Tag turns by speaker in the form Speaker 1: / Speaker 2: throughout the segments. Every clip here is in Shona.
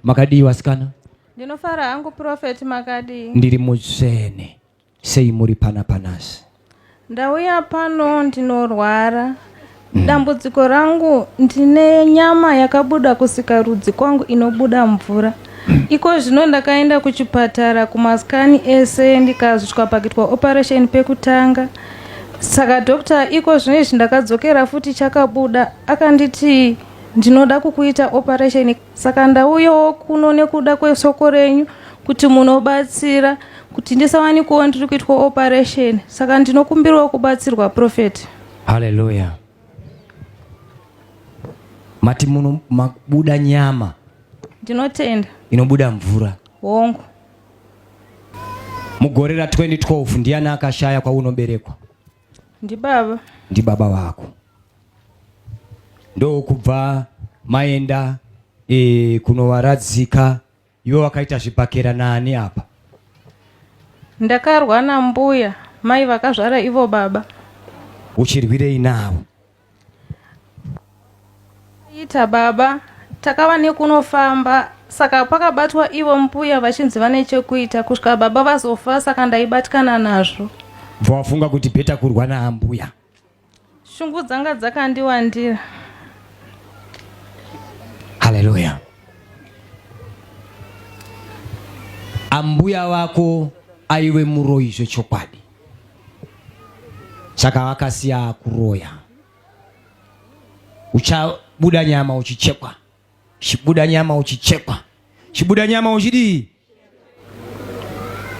Speaker 1: makadii vasikana ndinofara hangu
Speaker 2: profeti makadii ndiri mutsvene
Speaker 1: sei muri pana panasi ndauya
Speaker 2: pano ndinorwara mm. dambudziko rangu ndine nyama yakabuda kusikarudzi kwangu inobuda mvura Iko zvino ndakaenda kuchipatara kumaskani ese ndikazvitwa pakitwa operation pekutanga. Saka doctor iko zvino izvi ndakadzokera futi chakabuda akanditi ndinoda kukuita operation saka ndauyawo kuno nekuda kwesoko renyu kuti munobatsira kuti ndisawanikowo ndiri kuitwa operation saka ndinokumbirawo kubatsirwa prophet haleluya
Speaker 1: mati muno mabuda nyama ndinotenda
Speaker 2: inobuda mvura
Speaker 1: hongu mugore ra 2012 ndiani akashaya kwaunoberekwa ndibaba
Speaker 2: ndibaba vako
Speaker 1: ndokubva maenda e, kunovaradzika iwe wakaita zvibhakera naani apa ndakarwa
Speaker 2: nambuya mai vakazvara ivo baba uchirwirei
Speaker 1: navo
Speaker 2: Ita baba takava nekunofamba saka pakabatwa ivo mbuya vachinzi vane chekuita kusvika baba vazofa saka ndaibatikana nazvo bva wafunga kuti
Speaker 1: bheta kurwa naambuya shungu
Speaker 2: dzanga dzakandiwandira
Speaker 1: haleluya ambuya vako aive muroyi zvechokwadi saka vakasiya kuroya uchabuda nyama uchichekwa chibuda nyama uchichekwa chibuda nyama uchidii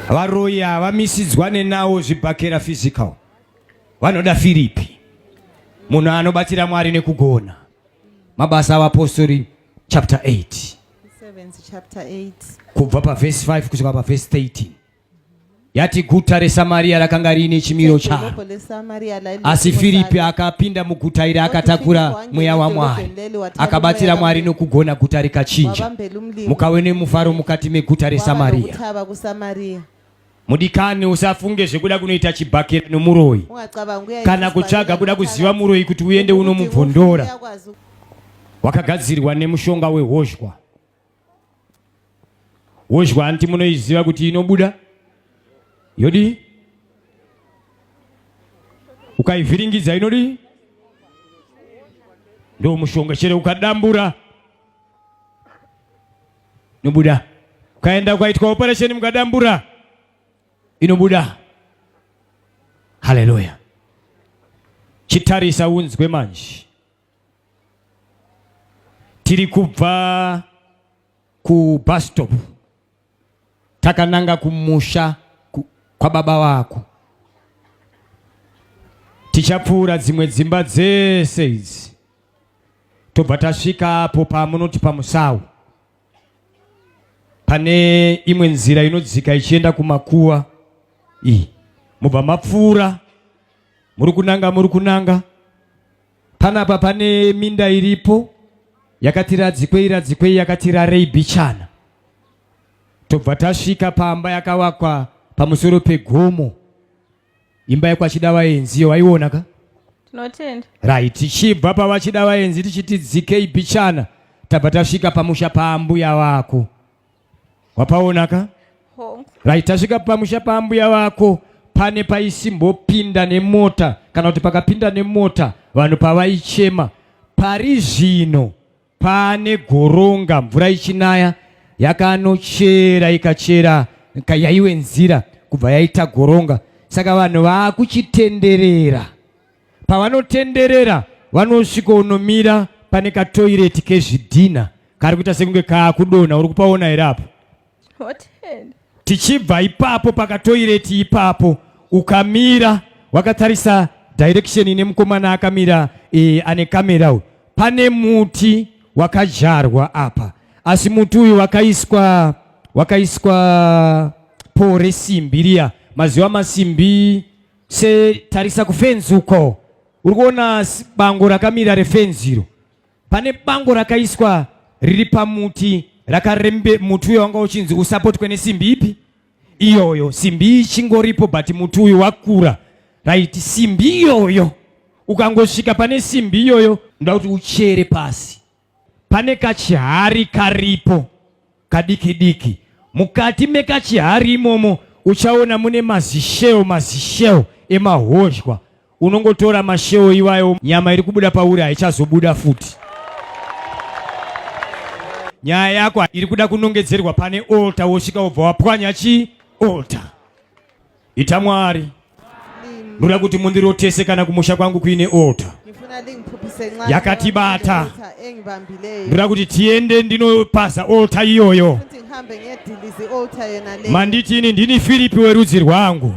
Speaker 1: varoyi havamisidzwa nenawo zvibhakera physical vanoda firipi munhu anobatsira mwari nekugona mabasa avapostori chapter 8 kubva pavhesi 5 kusvika pavhesi 13 yati guta reSamaria rakanga riine chimiro charo. Asi Firipi akapinda muguta iri akatakura mweya waMwari, akabatsira Mwari nokugona guta rikachinja. Mukave nemufaro mukati meguta reSamaria. Mudikani, usafunge zvekuda kunoita chibhakera nomuroyi kana kutsvaga kuda kuziva muroyi kuti uende unomubvondora. Wakagadzirwa nemushonga wehozhwa. wozhwa hanti munoiziva kuti inobuda yodii ukaivhiringidza inodii ndo mushonga chere ukadambura inobuda ukaenda ukaitwa operation mukadambura inobuda haleluya chitarisa unzwe manje tiri kubva kubus stop takananga kumusha kwababa vako tichapfuura dzimwe dzimba dzese idzi tobva tasvika apo pamunoti pamusawu pane imwe nzira inodzika ichienda kumakuva iyi mubva mapfuura muri kunanga muri kunanga Panapa pane minda iripo yakati radzikwei radzikwei yakati rarei bichana. Tobva tasvika pamba yakavakwa pamusoro pegomo. Imba yekwachida vaenzi iyo waiona ka? Tinotenda.
Speaker 2: Right, tichibva
Speaker 1: pavachida vaenzi tichiti dzikei bichana tabva tasvika pamusha paambuya vako. wapaona ka right tasvika pamusha paambuya vako pane paisimbopinda nemota kana kuti pakapinda nemota vanhu pavaichema pari zvino pane goronga mvura ichinaya yakanochera ikachera yaiwe nzira kubva yaita goronga saka vanhu vaakuchitenderera pavanotenderera vanosvikonomira pane katoireti kezvidhina kari kuita sekunge kaakudonha uri kupaona here apo tichibva ipapo pakatoireti ipapo ukamira wakatarisa direction ine mukomana akamira e, ane kamera uyu pane muti wakadyarwa apa asi muti uyu wakaiswa wakaiswa poo resimbi riya maziva masimbi setarisa kufenzi uko uri kuona bango rakamira refenzi iro Pane bango rakaiswa riri pamuti rakarembe muti uyo wanga uchinzi usapotwe nesimbi ipi iyoyo simbi ichingoripo but muti uyu wakura right simbi iyoyo ukangosvika pane simbi iyoyo ndoda kuti uchere pasi pane kachihari karipo kadiki diki mukati mekachihari imomo uchaona mune mazisheo mazisheo emahozhwa unongotora masheo iwayo nyama iri kubuda pauri haichazobuda futi nyaya yako iri kuda kunongedzerwa pane olta wosvika wobva wapwanya chii olta Ita Mwari. Ndoda kuti mundirotese kana kumusha kwangu kuine ota yakatibata. Ndoda kuti tiende ndinopaza ota iyoyo. Manditi ini ndini Filipi werudzi rwangu.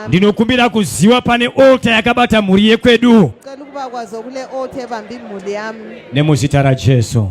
Speaker 1: Ndinokumbira kuziwa pane ota yakabata mhuri yekwedu. Nemuzita raJesu.